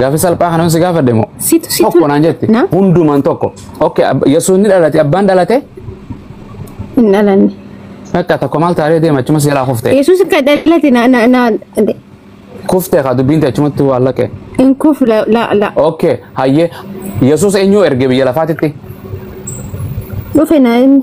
Gaaffii salphaa kana si gaafadhe moo? Situ situ. Tokko naan jette. Na? Hundumaan tokko. Okay, ab- Yesuus ni dhalate, abbaan dhalate. Hin dhalanne. Bakka tokko maal taatee deema achuma si jalaa kufte. Yesuus akka dhalate na na na Kufte kaa dubbiin ta'e achumatti waan laqe. hin kufu la la la. Okay, hayyee Yesuus eenyu erge biyya lafaatitti? Dhufe na inni.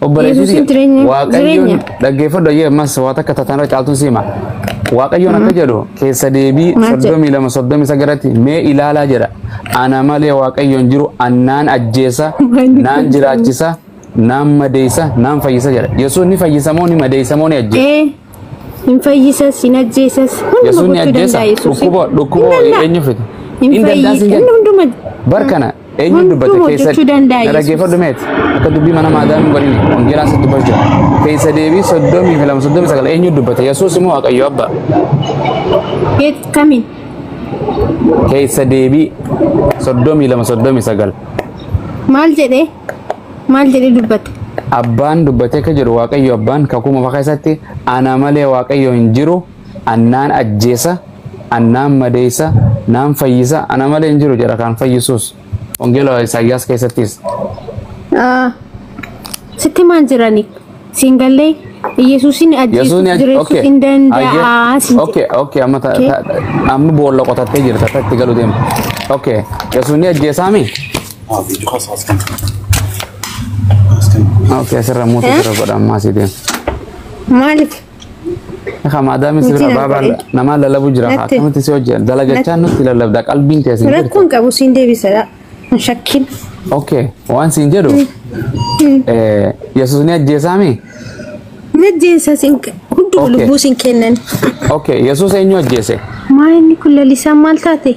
Yesuusiin jireenya- Waaqayyoon jireenya. dhaggeeffadhu ayyee ammas waa takka tatanirra caaltuun siima. Waaqayyoon akka jedhu keessa deebii Maal jedha? soddomii lama soddomii sagalatti mee ilaalaa jedha. Ana malee waaqayyoon jiru annaan ajjeesa, Maaliif naan ajjeesa? jiraachisa, naan madeessa, naan fayyisa jedha. Yesuus ni fayyisa moo ni madeessa moo ni ajjeesa? Ee, hin fayyisas, hin ajjeesas. Hunduma Yesuus ni gochuu ajjeesa. danda'a Yesuusiin. Dhukkuba dhukkuba Hin danda'a. eenyu fida? Hin Hin danda'a fayyisa. siin jedha. Inni hunduma Bar kana Eenyu Hunduu dubbate hojjechuu keessa danda'a na Yesuus. dhaggeeffadhu meet akka dubbii mana maadaamii waliin wangeelaa sitti dubbatu jira. Keessa deebii soddomii fi lama soddomii sagal eenyu dubbate Yesuus immoo Waaqayyo Abbaa. Keet kamiin? Keessa deebii soddomii lama soddomii sagal Maal jedhee? Maal jedhee dubbate? abbaan dubbatee akka jiru Waaqayyo abbaan kakuu moofaa keessatti ana malee Waaqayyo hin jiru An naan ajjeesa, an naan madeessa, naan fayyisa, ana malee hin jiru jedha kan fayyisuus. Wangeela Isaayyaas keessattis. Ah, Sitti maan jirani? Siin gallee Yesuusin Yesuusni ajjeesuuf aj- jireessuuf okay. hin danda'a. Ayyee. siin Okay, okay, amma ta- Okay. ta- amma boolla qotattee jirta akka itti galu deema. Okay, Yesuusni ajjeesaami? Ah, video kaas as kan. As kan. Okay, asirra muutu Eh? jira godha ammaa asii deema. jedhe. Maaliif? Akka maadaamii si bira Nuti baabaa darbee. namaa lallabuu jira haa Natti. akkamitti si hojjeta dalagachaa nutti lallabda qalbiin kee siin jirti. Rakkoon qabu siin deebisadha. Hin shakkin. Okay waan siin jedhu eh, Yesuus ni ajjeesaami. Najjeensa siin hunduma Okay. lubbuu siin kennan. Okay Yesuus eenyu ajjeese? Maa inni kun lalisaan maal taate?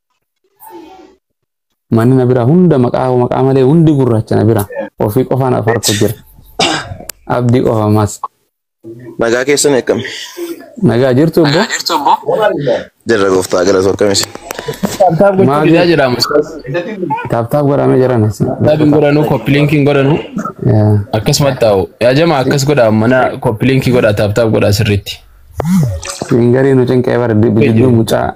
Manni na bira hunda maqaa koo maqaa malee hundi gurraacha na bira. Ofii qofaan afaan koo jira. Abdii qofa ammas. Nagaa keessan akkami? Nagaa jirtu obbo? Jirra gooftaa galatu akkami isin? Taaptaap gochuu Maal didaa jedhama. Taaptaap godhamee jiran. Taaptaap hin godhanu, koppiliinki hin godhanu. Akkasumatti taa'u. Yaa jamaa akkas godha mana koppiliinki godha taaptaap godha sirriitti. Siin garii nu cinqee bara jidduu mucaa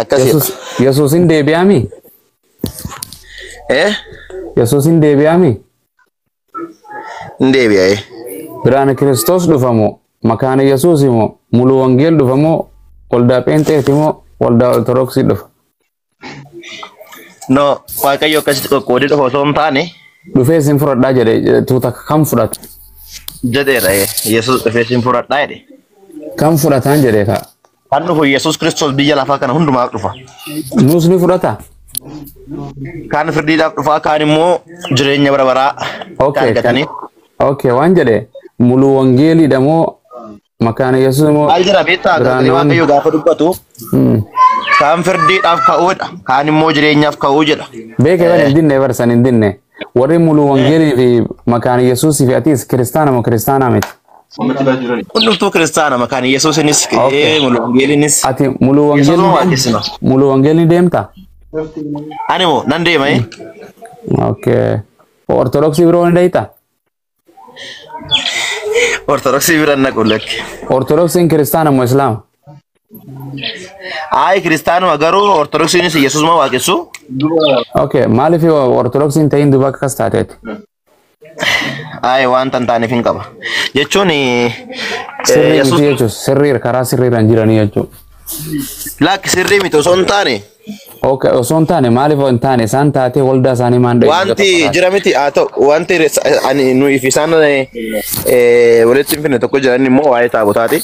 akkasi Yesus Yesusin deebi'aami eh Yesusin deebi'aami hin deebi'ee biraana Kiristoos dhufamoo makaana Yesuus moo muluu wangeel dhufamoo waldaa pheenxeeti moo waldaa ortodoksii dhufa No, waaqayyo akkasitti qoqqoodee dhufa osoo hin taane Dhufee isin fudhadhaa jedhe tuuta kan fudhatu jedheera eh, Yesuus dhufee isin fudhadhaa jedhe. kan fudhataan jedhe kaa. Kan dhufu Yesuus Kiristoos biyya lafaa kana hundumaaf dhufa. Nuus ni fudhata. Kaan firdiidhaaf dhufaa kaan immoo jireenya bara baraa Okay, kan argataniif. Okay, waan jedhe muluu wangeeliidha moo Makaana Yesuus immoo Maal jira beektaa sagalee biraannoon waaqayyoo gaafa dubbatu Mm. kaan firdiidhaaf ka'uudha kaan immoo jireenyaaf ka'uu jedha. beeke bar hin dinne bar san hin dinne warri muluu wangeelii fi makaana Yesuusii fi atis kiristaana moo kiristaanaa miti Hundumtuu kiristaana makaana Yesuusinis Okay. eh, muluu wangeelinis ati muluu Yesuus wangeelii moo deemta? waaqessina? muluu wangeelii deemta Ani moo nan deema eh? okay ortodoksii biroo ni deemta Ortodoksii bira hin naqu lakki. Ortodoksiin kiristaana moo islaama? Ayi kiristaanuma garuu ortodoksiinis Yesuusuma waaqessu. Okay, maaliif ortodoksiin ta'in duuba akkas taateeti? Ayi waan tan taaneef hin qaba. Jechuun eh, Sirrii Yesuus miti jechuus sirrii karaa sirriirra hin jiranii jechuudha. lakki sirrii miti osoo hin taane Okay, osoo hin taane maaliif hin taane isaan taatee waldaa isaanii maan dhaggeeffata Wanti tokko taate. jira miti haa ta'u wanti res- ani nuyi fi isaan eh, walitti hin finne tokko jiran immoo waa'ee taabotaati.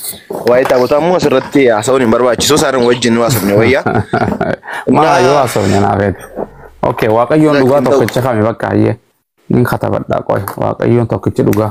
Waa'ee taabotaa immoo asirratti haasa'uun hin barbaachisu isaan wajjin nu haasofne wayya. Maa Na- yoo haasofne naaf eega. Okay, waaqayyoon dhugaa Lakkiin ta'u. tokkicha kami bakka hayyee. Nin katabadhaa qoy waaqayyoon tokkichi dhugaa.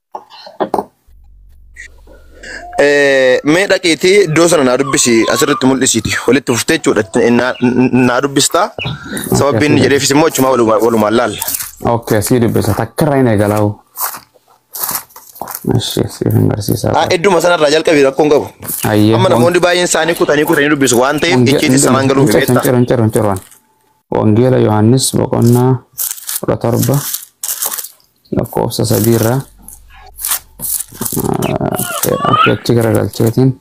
Mee dhaqiitii iddoo sana naa dubbisi asirratti mul'isiiti. Walitti fuftee jechuudha. Naa- Naa dubbistaa. Sababii inni jedheefis immoo achumaa walumaa- walumaan laalla. Okay, asii dubbisa. Takka irraa hin eegalaa. Ishee siif hin barsiisaa. Ah, Idduma sanarraa jalqabii rakkoon qabu. Ayyee. Amma namoonni baay'een isaanii kutanii kutanii dubbisu waan ta'eef icciitii sanaan galuuf hin beektaa. ciru hin ciru hin ciru. Wangeela Yohaannis boqonnaa 17 lakkoofsa 3 irraa akka itti garagalcheetiin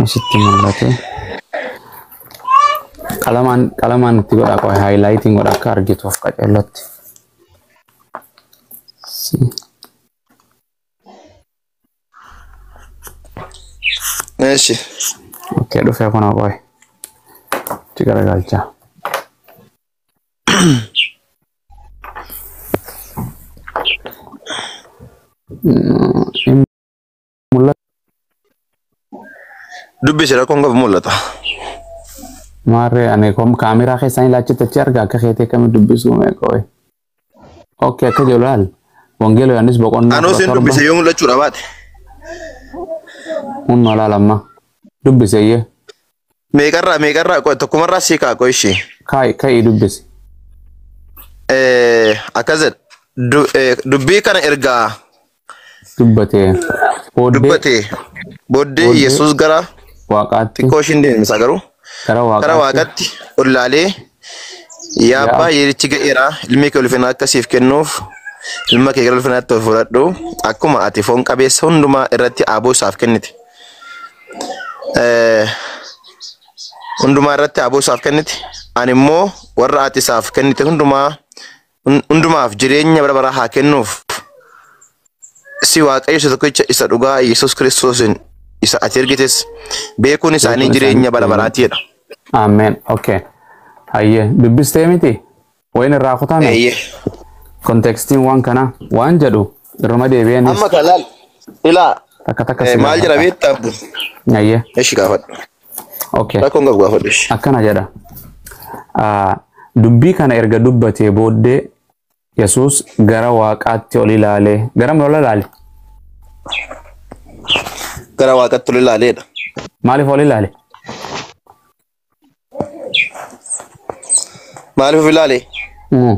asitti mul'ate. Qalamaan qalamaan itti godha qofa haayilaayitiin godha akka argituuf qaceellatti. Si. Eeshi. Okkee dhufee kun qoy. Itti garagalcha. Mul'ata Dubbisi rakkoon qabu mul'ata. maarree ani kom kaameraa keessaan ilaachitti achi arga akka keetii akkamitti dubbisuu mee qoy. Okkee akka jedhu laal. Wangeela Yohaannis boqonnaa Anoo kudha sin torba dubbise yoo mul'achuu dhabaate. hunna laal amma. Dubbiseyyee Meeqarraa meeqarraa qoy tokkumarraa sii kaa qoy ishee. kaa'i ka'ii dubbisi. Eh, Akkas jedha. Du- eh, Dubbii kana ergaa Dubbatee. Booddee dubbate booddee Booddee yesus gara waaqaatti xiqqoo ishiin deemsa garuu gara gara waaqaatti waaqatti ol laalee yaa abbaa yeerichi ga'eera ilmi kee ulfina akka siif kennuuf ilma kee gara ulfinaatti ol fudhadhu akkuma ati foon qabeessa hundumaa irratti aaboo isaaf kennite Eh, hundumaa irratti aaboo isaaf kennite ani immoo warra ati isaaf kennite hundumaa hun- hundumaaf jireenya bara baraa haa kennuuf. Si Waaqayyo isa tokkicha isa dhugaa Yesuus Kiristoosiin isa ati ergites beekuun isaanii Beekuun jireenya isaanii bara baraati jedha. Ameen. Okay. Hayyee dubbistee miti? Wayin irraa kutame? Eeyyee. Kontekstiin waan kanaa waan jedhu irruma deebi'anis Amma kan laal ilaa takka takka eh, si maal jira gaafata. beektaa? Hayyee. Eshi gaafadhu. Okay. Rakkoon qabu gaafadhu. ishee. akkana jedha Ah, dubbii kana erga dubbatee booddee yesus gara waaqaatti ol ilaalee gara ol ilaale Gara waaqatti ol ilaaleedha. maaliif ol ilaale Maaliif of ilaale? Mm.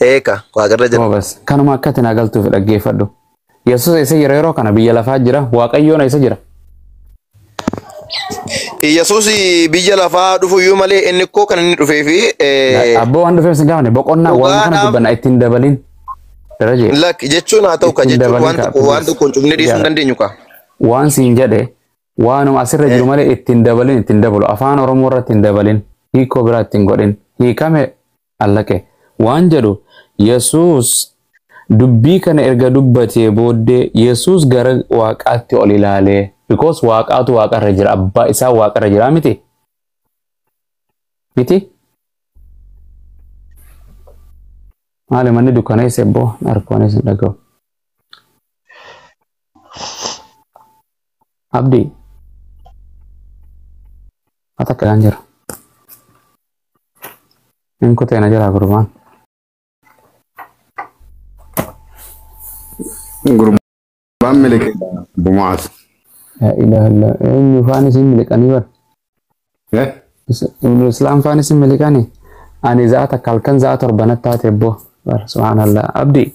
Eeka, waaqarra jira. Goobas. Kanuma akkati naa galtuuf dhaggeeffadhu. Yesus eessa jira yeroo kana? Biyya lafaa jira. Waaqayyoon eessa jira? Yesus biyya lafaa dhufuyyuu malee inni ikkoo kan inni dhufee fi Abboo waan dhufeef sin gaafane boqonnaa waan kana Dhugaadhaaf- dubbanna ittiin dabalin. Darajee. lak jechuun haa ta'u ka Ittiin jechuun waan dabalii tokko kaa, waan please. tokkoon cufnee dhiisuu hin Yaa. dandeenyu ka. waan siin jedhe waanuma asirra jiru malee ittiin dabalin ittiin dabalu afaan oromoo irratti hin dabalin hiikoo biraa ittiin godhin hiikame Allaqe. Waan jedhu, Yesuus dubbii kana erga dubbatee booddee Yesuus gara waaqaatti ol ilaalee because waaqaatu waaqarra jira abbaa isaa waaqarra jira miti miti maali manni dukkaneessa ebboo narkoonis hin dhaga'u abdii mata kalaan jira Hin kutee na jalaa gurbaan. Gurbaan miliqee bumaas. Yaa ilaaha illa eenyu faan isin miliqanii bar. Eh? Is- Ibnu Islaam faan isin miliqanii. Ani za'a takka halkan za'a torbanatti taate boo. Bar subhaanallah. Abdi.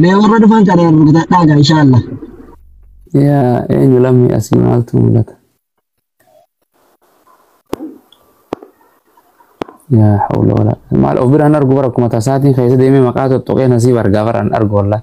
Mee warra dhufan kana rukutadhaa gaa inshaallah. Yaa eenyu lammii asii maaltu mul'ata? Yaa hawla wala. Maal of biraan argu bara akkuma tasaatiin keessa deemee maqaa tuttuqee nasiib argaa baraan argu wallahi.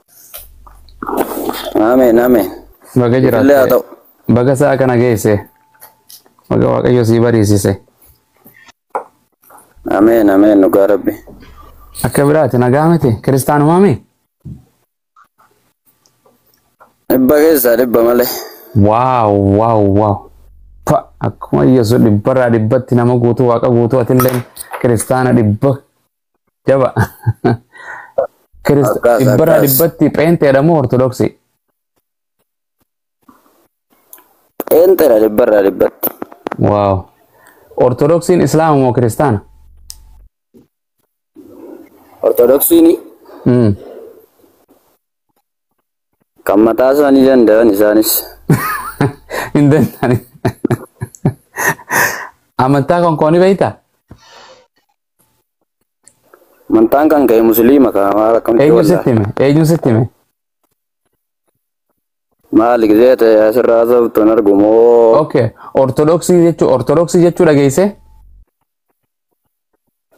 Ameen ameen. Baga Illee haa jiraatte. ta'u. Baga sa'a kana geesse. Baga Waaqayyo sii bariisise. Ameen ameen dhugaa rabbi. Akka biraati nagaa miti kiristaanumaa mee? Dhibba keessaa dhibba malee. Waaw waaw waaw. Pa akkuma Yesuus dhibbarraa dhibbatti nama guutuu waaqa guutuu atilleen kiristaana dhibba Jaba. Kirist Akkas, dhibbarraa akkas. dhibbatti pheenteedha moo ortodoksii? Pheenxeedha dhibbarraa dhibbatti. Waaw. Ortodoksiin islaama moo kiristaana? Ortodoksiin Mm. kan mataa isaanii danda'an isaanis. Hin danda'ani. Amantaa konkoonii beektaa? Mantaan kan ka'e musliima kan maal akkamti Eenyu wallaahi. sitti hime? Eenyu sitti hime? Maali gisee ta'e asirraa sabtu hin argu moo. Okay. Ortodoksii jechuu Ortodoksii jechuu dhageesse?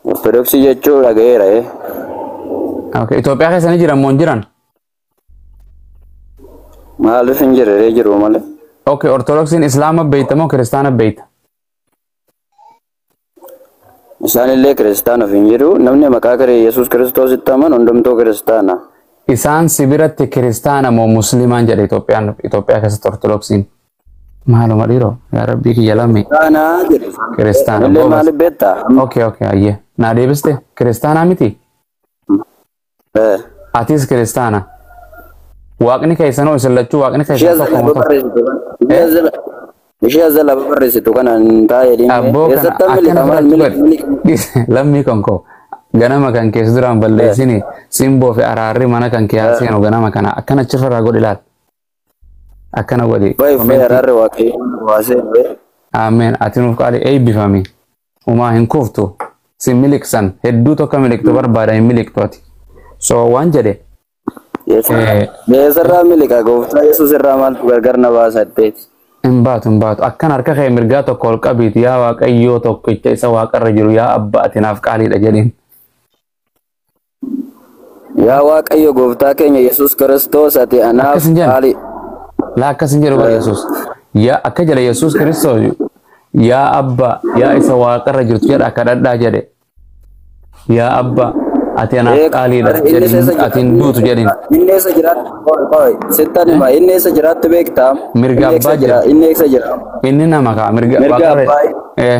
Ortodoksii jechuu dhagayeera ee. Okay. Itoophiyaa keessa ni jiran moo hin jiran? Maaliif hin jirree jiru malee. Okay. Ortodoksiin Islaama beeyta moo Kiristaana beeyta? Isaanillee Kiristaana ofiin jedhu, namni maqaa Kiri Yesuus Kiristoositti amanu hundumtuu Kiristaana. Isaan si biratti Kiristaana moo Musliimaan jedha Itoophiyaan Itoophiyaa keessatti Ortodoksiin. Maaluma dhiiroo yaa rabbii kiyya lammii. Kiristaana jedhu. Kiristaana Anillee goobas. maaliif beektaa? Okay okay ayyee naa deebiste Kiristaanaa miti? Eh. Atis kiristaana. Waaqni keessanoo isin lachuu waaqni Ishee keessan tokko moo tokko. Ishee zala barreessitu kana hin taa'e dhimmi. Abboo kana Eessatti akkana miliqa maal fudhachuu miliqa miliqa. godhe. Lammii kan koo. Ganama kan keessa duraan balleessini simboo fi araarri mana kan kee haa seenu ganama kana akkana achi irraa godhi laal. Akkana godhi. Baay'ee fi Komentii. araarri waaqayyoon waasee. Ameen. Ati nuuf qaali eebbifami. Humaa hin kuftu. Sin miliqsan. Hedduu tokko miliqtu barbaada hin miliqtu ati. So waan jedhe. Eessarraa miliqa gooftaa Yesuus irraa maaltu gargar na baasa jetteeti. Hin baatu hin baatu. Akkan harka kee mirgaa tokko ol qabiiti yaa waaqayyoo tokkicha isa waaqarra jiru yaa abba ati naaf qaaliidha jedheen. Yaa Waaqayyo gooftaa keenya Yesuus Kiristoos ati anaaf Akkas hin jedhan. qaali. Laa akkas hin jedhu bara Yesuus. Yaa akka jedha Yesuus Kiristoos yaa abba yaa isa waaqarra jirtu jedha kadhadhaa jedhe. Yaa abba ati anaaf Ee, qaaliidha inni jedhin eessa jira? ati hin duutu jedhin. Inni eessa jiraatti? Qoy, qoy, sittan hima. Inni eessa jiraatti beektaa? Mirga Inni eessa abbaa jira? jira. Inni eessa jira? Inni nama kaa mirga Mirga waaqarra. abbaa. Eh.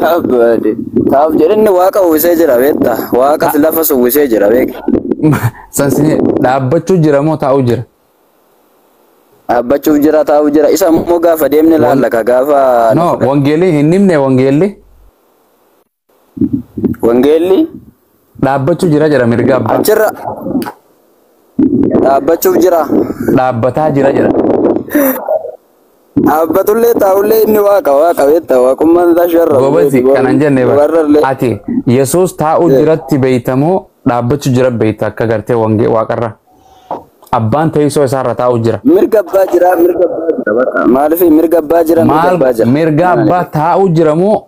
Taaf baade. Taaf jedhinni waaqa uwwisee jira beekta. Waaqas lafas uwwisee jira beekta. Sansinee dhaabbachuu jira moo taa'uu jira? Dhaabbachuuf jira taa'uu jira. Isa immoo gaafa deemne laalla ka gaafa No, wangeelli hin himne wangeelli. wangeelli Dhaabbachuu jira jira mirga abbaa. Achirra dhaabbachuuf jira. Dhaabbataa jira jira. Dhaabbatullee taa'ullee inni waaqa waaqa beektaa waaqummaan isaa sharra. Gobazi kanan jenne bara. Warrallee. Ati Yesuus taa'uu Eh. jiratti beeytamoo dhaabbachuu jira beeyta akka gartee wangee waaqarra. Abbaan teessoo isaarra taa'uu jira. Mirga abbaa jira mirga abbaa jira. Maaliif mirga abbaa jira mirga Maal abbaa jira. mirga abbaa taa'uu jiramoo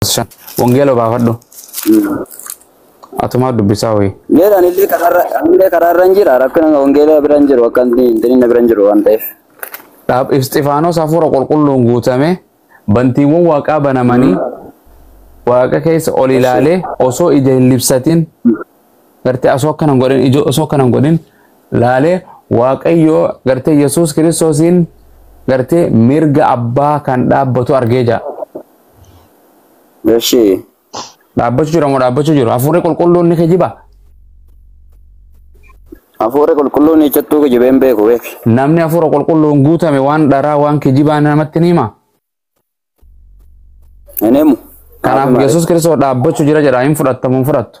shan wangeela obaafadhu atumaa dubbisaa hoyi Geera anillee karaarra anillee karaarra hin jira rakkina wangeela bira hin jiru akka inni inni bira hin jiru waan ta'eef. dhaab isxifaanos hafuura qulqulluun guutame bantiiwwan waaqaa banamanii waaqa keessa ol ilaalee osoo ija hin libsatin gartee osoo akkana hin godhin ija osoo akkana hin godhin laalee waaqayyoo gartee yesuus kiristoosiin gartee mirga abbaa kan dhaabbatu argee jira. Eshi. Dhaabbachuu jira moo dhaabbachuu jiru? Hafuurri qulqulluun ni kijiba? Hafuurri qulqulluun ichattuu kijibee hin beeku beek. Namni hafuura qulqulluun guutame waan dharaa waan kijibaa namatti ni hima. Hin himu. Kanaaf Yesuus Kiristoos dhaabbachuu jira jedha hin fudhattamu hin fudhattu.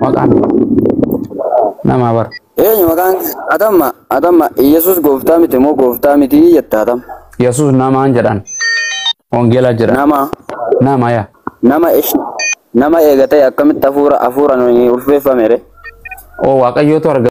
Maqaan namaa bar. Eenyu maqaan kee? Atamma atamma Yesuus gooftaa miti moo gooftaa miti jetta atam. Yesuus namaan jedhan. Wangeelaa jedhan. Nama Nama yaa. nama ish nama eega ta'e akkamitti hafuura hafuuraan ulfeeffame ree? Oo waaqayyootu arga.